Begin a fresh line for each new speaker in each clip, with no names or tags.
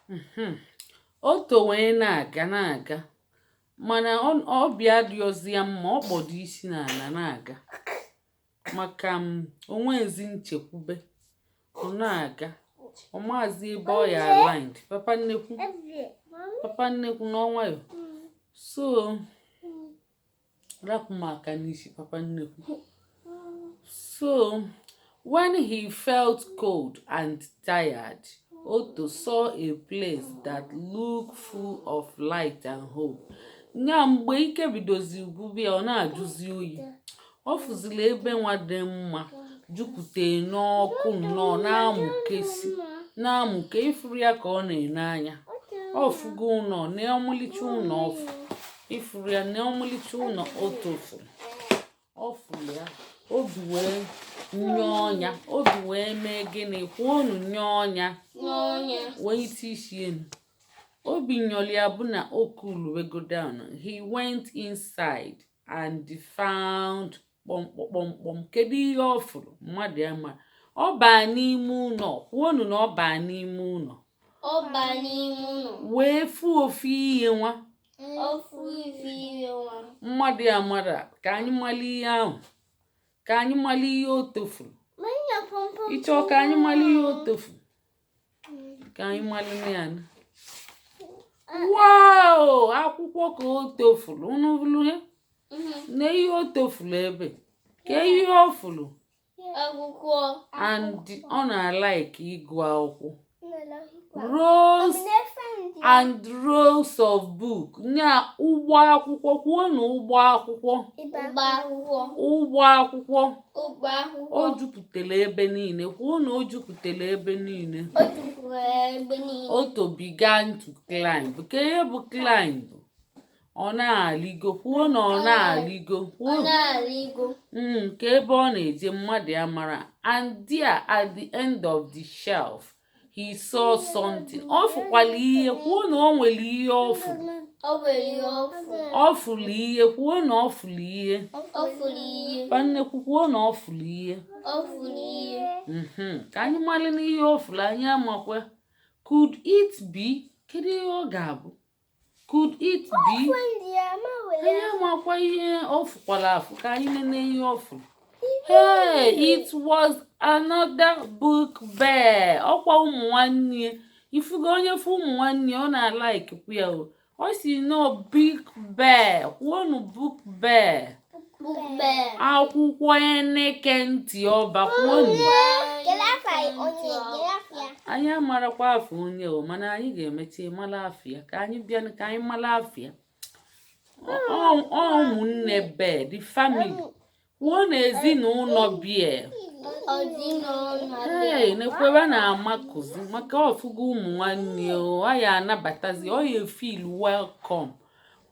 mhm. otto wee na-aga na-aga mana obi adịrọzi ya mma ọ kpọdo isi n'ala na-aga maka o nwezi nchekwube ọ na-aga ọ maazị ebe ọ ya aland papa nnekwu papa nnekwu nọ nwayọ so rapụ m aka n'isi papa nnekwu so when he felt cold and tired otto saw a place that looked full of light and hope nya mgbe ike bidozi gwụba ya ọ na-ajụzi oyi ọ fụziri ebe nwa dị mma jupụta n'ọkụ nnọọ na-amụkesi na-amụke ị fụrụ ya ka ọ na-ene anya ọ fụgo ụnọ na ọmalịcha ụnọ ọ fụ ị fụrụ ya na ọmalịcha ụnọ otto fụrụ ọ fụrụ ya obi wee nyọọ nya obi wee mee gịnị kwuonu nyọọ nya welite isi enu obi nyọrọ ya bụ na o coolubego down he went inside and found kpọmkpọmkpọm kedu ihe ọ fụrụ mmadụ ya ma ọ baa n'ime ụnọ kwuonu na ọ baa n'ime ụnọ ọ baa n'ime ụnọ wee fụ ofu ihe nwa ofu ihe nwa mmadụ ya mara ka anyị mara ihe ahụ ka anyị mara ihe otto fụrụ ị chọ ka anyị mara ihe otto fụrụ ka anyị malụnụ ya nụ wow akwụkwọ ka otto fụrụ unu fụrụ ya na ihe otto fụrụ ebe kee ihe ọ fụrụ akwụkwọ and ọ na-alike ịgụ akwụkwọ rows and rows of book nya ụgbọ akwụkwọ kwuonu ụgbọ akwụkwọ ụgbọ akwụkwọ ụgbọ akwụkwọ o jupụtara ebe niile kwuo na o jupụtara ebe niile otto began to climb kee ihe bụ climb ọ na-alịgo kwuo na ọ na-alịgo kwuo hmm, kee ebe ọ na-eje mmadụ ya mara and there at the end of the shelf he saw something ọ fụkwala ihe kwuo na o nwere ihe ọ fụrụ ọ fụrụ ihe kwuo na ọ fụrụ ihe pa nnekwu kwuo na ọ fụrụ ihe mhm. ka anyị maranụ ihe ọ fụrụ anyị amakwa could it be kedu ihe ọ ga-abụ could it be anyị amakwa ihe ọ fụkwara afụ ka anyị nene ihe ọ fụrụ hey it was another book bear ọkwa ụmụ nwanne ya ị fụgo onye fụ ụmụ nwanne ya ọ na-alikekwu ya o ọ sị nọ book bear kwuonu book bear akwụkwọ eneke ntị ọba kwuonu anyị amarakwa afa onye o mana anyị ga-emecha mara afa ya ka anyị bịa ka anyị mara afa ya ụmụnne bear the family kwuonu ezinụlọ bear ee nekwa bear na-amakụzi maka ọ fụgo ụmụ nwanne ya anabatazi ọ ya feel welcome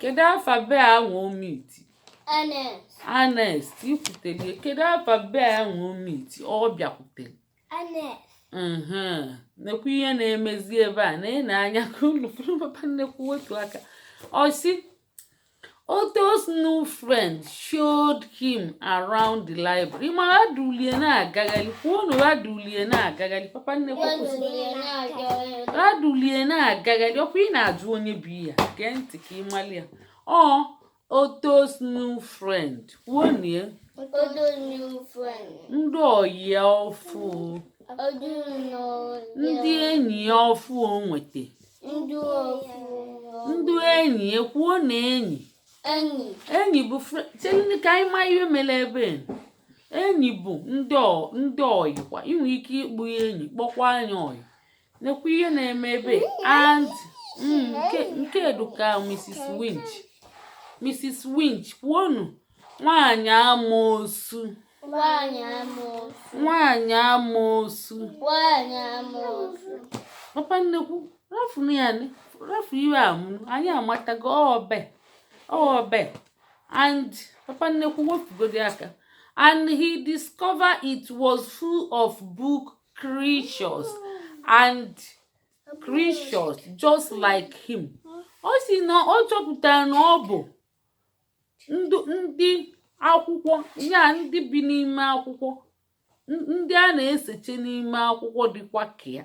kedu afa bear anwa o meet Ernest i kwutere kedu afa bear anwa o meet ọ bịakwutere nekwu ihe na-emezi ebe a neenu anya ka unu fụrụ papa nnekwu wepụ aka ọ si Otto's new friend showed him around the library ma ha dulie na-agagharị kwuonu ha dulie na-agagharị papa nnekwu ha dulie na-agagharị ọkwa ị na-ajụ onye bụ ya gee ntị ka ị mali ya Otto's new friend kwuonu ndị ọyị ya ọfụ ndị enyi ya ọfụ o nweta ndị enyi ya kwuonu enyi enyi enyi bụ chelenu ka anyị maa ihe mere bear enyi bụ ndị ndị ọyị kwa ị nwere ike ịkpọ ya enyi kpọkwanụ ya ọyị nekwa ihe na-eme ebe and mm, nke a dị ka Mrs. Witch Mrs. Witch kwuonu nwaanyị amoosu nwaanyị amoosu nwaanyị amoosu nwaanyị amoosu papa nnekwu rafuru ya rafu iwe a anyị amatago ọbe ọbe and papa nnekwu wepụgodi aka and he discovered it was full of book creatures and creatures just like him ọ si na ọ chọpụtara na ọ bụ ndị akwụkwọ ya ndị bi n'ime akwụkwọ ndị a na-eseche n'ime akwụkwọ dịkwa ka ya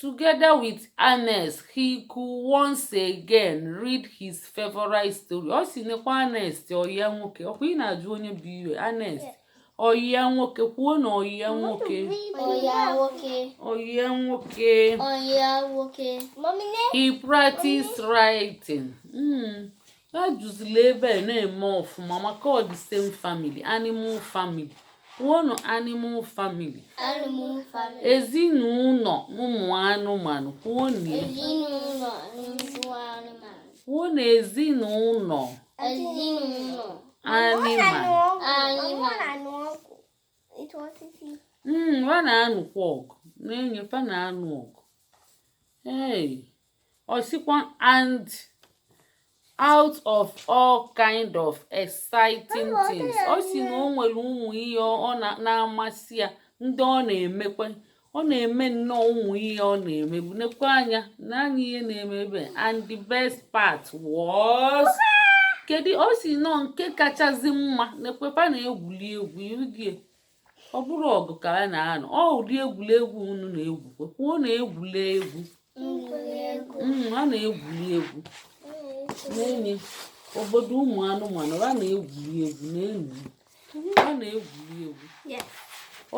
together with Ernest he could once again read his favorite story ọ si nekwa Ernest ọyị ya nwoke ọkwa ị na-ajụ onye bụ ya Ernest ọyị ya nwoke kwuonu ọyị ya nwoke Oya nwoke. ọyị ya nwoke Oya nwoke. Mommy, name he practiced writing mm. ajụzila ebe a na-eme ọfụma maka ọ the same family animal family kwuonụ animal family Animal family. ezinụlọ ụmụ anụmanụ kwuonụ ya. Ezinụlọ nnukwu anụmanụ. kwuonụ ezinụlọ Ezinụlọ anịmanụ anụmanụ. Ịtụ osisi. Mm, fa na-anụkwa ọgụ na-enye fa na-anụ ọgụ hey ọ sịkwa and out of all kind of exciting things ọ si na o nwere ụmụ ihe na-amasị ya ndị ọ na-emekwa ọ na-eme nnọọ ụmụ ihe ọ na-emebu nekwa anya na anya ihe na-eme ebe and the best part was kedu ọ sị na nke kachasị mma nekwa fa na-egwuli egwu irugie ọ bụrọ ọgụ ka a na-anụ ọ ụdị egwuregwu unu na-egwu kwuonu egwuli egwu mm, a na-egwuli egwu n'ime obodo ụmụ anụmanụ a na-egwuli egwu n'enyi a na-egwuli egwu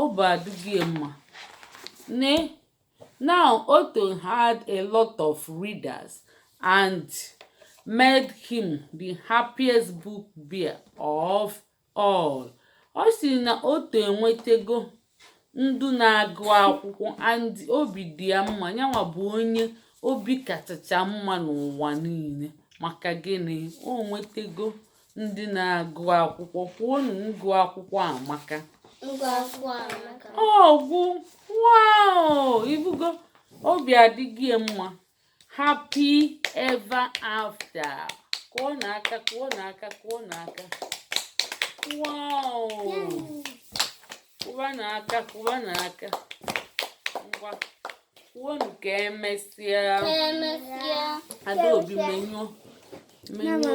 obi adịgo ya mma ne now Otto had a lot of readers and made him the happiest book bear of All. Ọ sị na Otto enwetego ndị na-agụ akwụkwọ and obi dị ya mma yanwa bụ onye obi kachacha mma n'ụwa niile maka gịnị o nwetego ndị na-agụ akwụkwọ kwuonu ngụ akwụkwọ amaka Ngụ akwụkwọ amaka. ọ gwụ woo ị fụgo obi adịgo ya mma happy ever after kụọnụ aka kụọnụ aka kụọnụ aka kụwanụ aka kụwanụ aka ngwa kwuonu ka emesịa adaobi menyụọ menyụọ